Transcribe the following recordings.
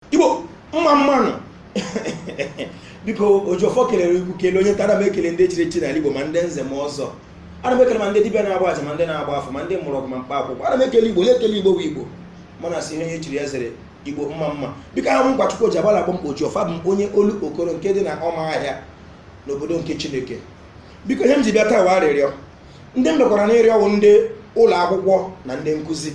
igbo mma mma nụ biko oji ọfọ kelere ikwu kele onye tara m ekele ndị chiri echi n'ala igbo ma ndị nze ma ọzọ ana m ekele ma ndị dibịa na-agba aja ma ndị na-agba afa ma ndị mụrụ ọgwụ ma mkpa akwụkwọ ana m ekele igbo onye ekele igbo bụ igbo mana asị ihe onye chiri ya zere igbo mma mma biko awụ m nwachukwu ji agbala akpọ m oji ọfọ bụ onye olokoro nke dị na ụmụahịa n'obodo nke chineke biko ihe m ji bịa taa wụ arịrịọ ndị m dọkwara n'ịrịọ wụ ndị ụlọ akwụkwọ na ndị nkụzi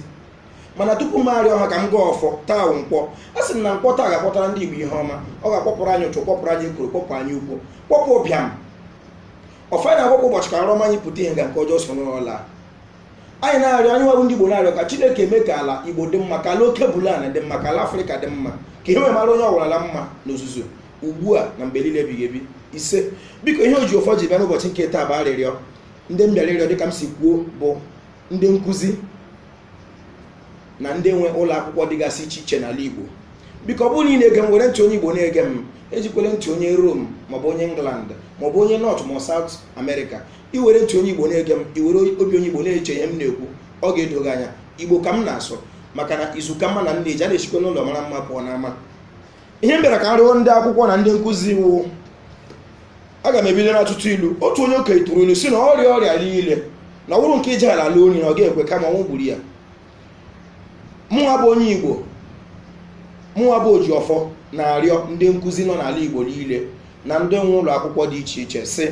mana tupu m arịọ ha ka m gọọ ọfọ taa nkwọ a sị m na nkwọ taa ga-akwọtara ndị igbo ihe ọma ọ ga-akwọpụrụ anya ụfụ kwọpụrụ anyị ekworo kwọpụ anya ukwu kwọpụ ụbịam ọfa na akwụkwọ ụbọchị ka nrọ ọma anyị pụta ihe ka nke ọjọọ so n'ụlọ anyị na-arịọ anyịnwa bụ ndị igbo na-arịọ ka chineke mee ka ala igbo dị mma ka alkebulan dị mma ka ala afrịka dị mma ka ihe mara onye ọwụla mma n'ozuzu ugbu a na mgbe niile ebighị ebi ise biko ihe oji ọfọ ji bịa n'ụbọchị nke taa bụ arịrịọ ndị m bịara ịrịọ dịka m si kwuo bụ ndị nkụzi na ndị nwe ụlọ akwụkwọ dịgasị iche iche n'ala Igbo biko ọ bụrụ na ị na-ege m were ntị onye Igbo na-ege m ejikwele ntị onye Rome maọbụ onye England maọbụ onye North ma South America i were ntị onye Igbo na-ege m i were obi onye Igbo na-eche ihe m na-ekwu ọ ga-edo gị anya Igbo ka m na-asụ maka na izu ka mma na nne ji a na-esikwa n'ụlọ mara mma pụọ n'ama ihe m bịara ka m rịọ ndị akwụkwọ na ndị nkụzi wụ aga m ebido n'atụtụ ilu otu onye okenye tụrụ ilu si na ọrịa ọrịa niile na ọ wụrụ nke ije ala ala onye na ọ ga-ekwe kama ọnwụ gburu ya mụnwa bụ onye igbo mụnwa bụ oji ọfọ na-arịọ ndị nkụzi nọ n'ala igbo niile na ndị nwe ụlọ akwụkwọ dị iche iche sị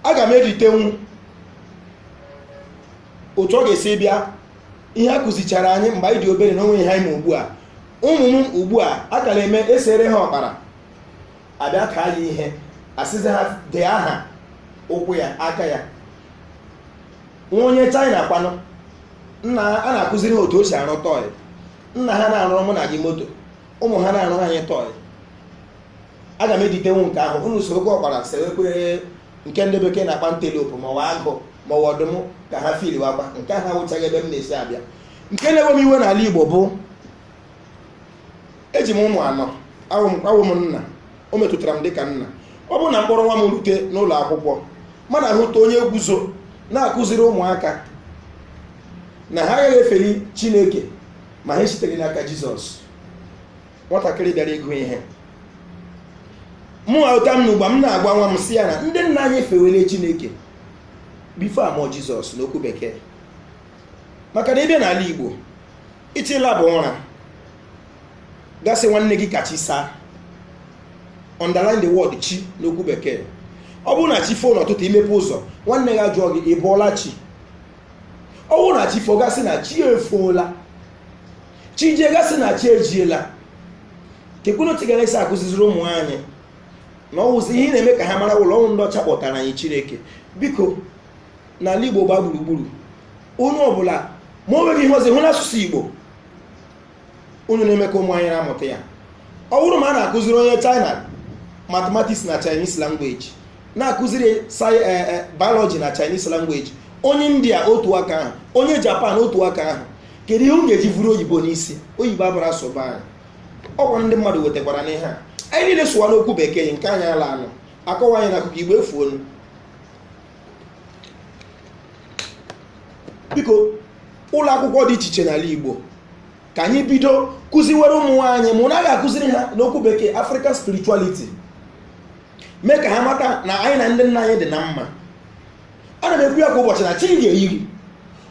aga m editenwu otu ọ ga-esi bịa ihe a kụzichara anyị mgbe anyị dị obere na o nweghị ihe anyị ma ugbu a ụmụ m ugbu a a ka na-eme esere ha ụkpara abịa kaa ya ihe asịzi ha dee aha ụkwụ ya aka ya nwa onye china kwanụ nna ha a na-akụziri ha otu e si arụ toy nna ha na-arụrụ mụ na gị moto ụmụ ha na-arụrụ anyị toy aga m editenwu nke ahụ unu sorokwa ụkpara sewekwe nke ndị bekee na-akpọ antelope ma ọ wụ agụ ma ọ wụ ọdụm ka ha fili wakwa nke ahụ awụchaghị ebe m na-esi abịa nke na-ewe m iwe n'ala igbo bụ eji m ụmụ anọ awụ m nna o metụtara m dịka nna ọ bụrụ na m kpọrọ nwa m rute n'ụlọ akwụkwọ m na-ahụta onye guzo na-akụziri ụmụaka na ha agaghị efeli chineke ma ha esiteghị n'aka jizọs nwatakịrị bịara ịgụ ihe mụ ụta m n'ụgba m na-agwa nwa m si ya na ndị nna anyị fewere chineke before a mụọ jizọs n'okwu bekee maka na ị bịa n'ala igbo ị chọọ ịlaba ụra ga-asị nwanne gị ka chi saa underline the word chi n'okwu bekee ọ bụrụ na chi foo n'ụtụtụ i mepe ụzọ nwanne gị ajụọ gị ị bọọla chi ọ bụrụ na chi foo ga-asị na chi efoola chi ejighị a sị na chi ejiela kee ka unu gara esi akụziziri ụmụ anyị na ọ wụzi ihe na-eme ka ha mara na ọ wụ ndị ọcha kpọtara anyị chineke biko n'ala igbo gba gburugburu onye ọbụla ma o nweghị ihe ọzọ hụ na asụsụ igbo unu na-eme ka ụmụ anyị na-amụta ya ọ bụrụ ma a na-akụziri onye china mathematics na chinese language na-akụziri sci- eh, eh, biology na chinese language onye india otu aka ahụ onye japan otu aka ahụ kedu ihe m ga-eji vuru oyibo n'isi oyibo abụrụ asụba anyị ọkwa ndị mmadụ wetakwara anyị ihe a anyị niile sụwa n'okwu bekee nke anyị ala a nọ akọwa anyị n'akụkọ igbo efuonu biko ụlọ akwụkwọ dị iche iche n'ala igbo ka anyị bido kụziwere ụmụ anyị ma a naghị akụziri ha n'okwu bekee african spirituality mee ka ha mata na anyị na ndị nna anyị dị na mma ana m ekwu ya kwa ụbọchị na chi ga-eyiri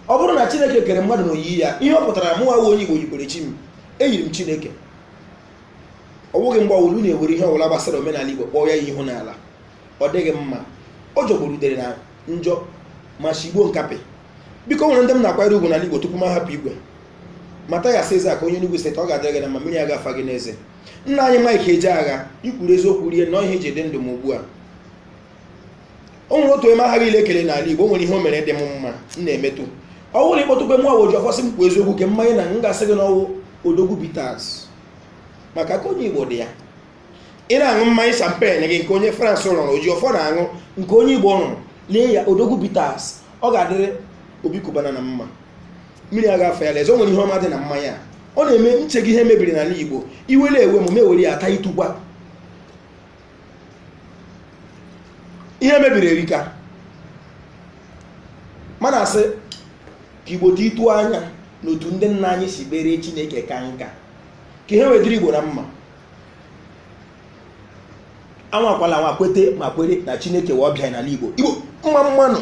ọ bụrụ na chineke kere mmadụ na oyiyi ya ihe ọ pụtara mụ nwa wụ onye igbo yikwara chi m eyiri m chineke ọ bụghị mgbe ọwụla unu ewere ihe ọbụla gbasara omenala igbo kpọọ ya ihe ihu n'ala ọ dịghị mma ọ jọgburu udele na njọ ma shigbuo nkapị biko o nwere ndị m na-akwanyere ugwu n'ala igbo tupu m ahapụ igwe matthias ezeaku onye Enugu steeti ọ ga-adịrị gị na mma mmiri aga afa gị n'eze nna anyị mike ejeagha i kwuru eziokwu rie nọọ ihe eji dị ndụ m ugbu a o nwere otu onye m aghaghị inye ekele n'ala igbo o nwere ihe o mere dị m mma m na-emetụ ọ bụrụ na ị kpọtụkwa mụa wụ oji ọfọ sị m kwuo eziokwu kee mmanya ị na-aṅụ m ga-asị gị na ọ wụ odogwu bitters maka aka onye igbo dị ya ị na-aṅụ mmanya champagne gị nke onye france rụrụ oji ọfọ na-aṅụ nke onye igbo rụrụ lee ya odogwu bitters ọ ga-adịrị obi cubana na mma mmiri aga afa ya l'eze o nwere ihe ọma dị na mmanya a. ọ na-eme nche gị ihe mebiri n'ala igbo iwe la-ewe m m ewere ya ata ịtụkwa ihe mebiri erika mana asị ka igbo dị ịtụ anya n'otu ndị nna anyị si kpere chineke ka nka ka ihe wee dịrị igbo na mma anwakwala anwa kwete ma kwere na chineke wụ ọbịa n'ala igbo igbo mma mma nụ